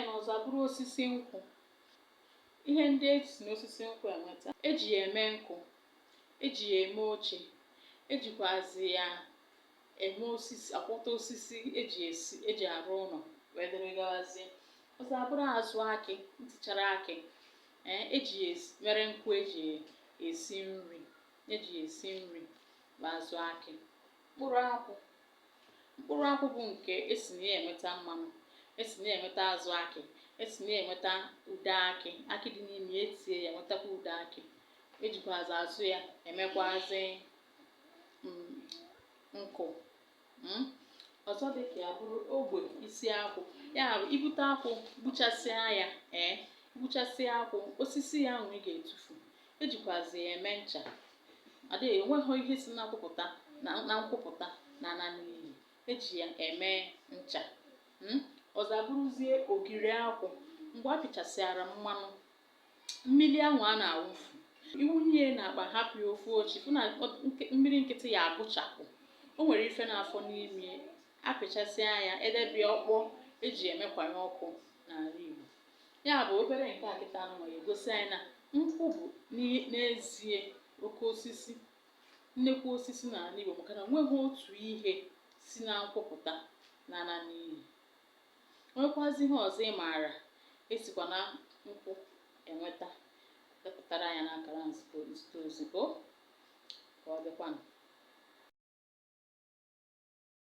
ya na ọzọ abụrụ osisi nkwụ ihe ndị e si n'osisi nkwụ enweta eji ya eme nkụ eji ya eme oche ejikwazi ya eme osisi akwọta osisi eji esi eji arụ ụlọ wee dịrị gawazie ọzọ abụrụ azụ akị ntichara akị ee eji ya esi mere nkụ eji ya esi nri eji ya esi nri bụ azụ akị mkpụrụ akwụ mkpụrụ akwụ bụ nke esi na ya enweta mmanụ esi na ya enweta azụ akị esi na ya enweta ude akị akị dị n'ime ya etie ya nwetakwa ude akị ejikwazi azụ ya emekwazi mm, nkụ mm. ọzọ dị ka ya bụrụ ogbe isi akwụ ya bụ ibute akwụ gbuchasịa ya ee gbuchasịa akwụ osisi ya ahụ ị ga-etufu ejikwazi ya eme ncha Ọ dịghị enweghị ihe si na nkwụ pụta na na nkwụ pụta na-ana n'iyi eji ya eme ncha mm, ọzọ abụrụzie ogiri akwụ mgbe a pịchasịara mmanụ mmiri ahụ a na-awụfu ị wụnye ya n'akpa hapụ ya ofu ụbọchị fụ na ọ- nke- mmiri nkịtị ya agụchapụ o nwere ife na-afọ n'ime apịchasịa ya edebe ya ọ kpọọ eji emekwanye ọkụ n'ala Igbo Ya bụ obere nke a kịta anụnwa ya egosi anyị na nkwụ bụ n'i- n'ezie oke osisi nnekwu osisi n'ala Igbo maka na nweghị otu ihe si na nkwụ pụta na-ana n'iyi nwekwazi ihe ọzọ ị maara esikwa na nkwụ enweta depụtara anyị ya n'akara nzite nzite ozi o ka ọ dịkwanụ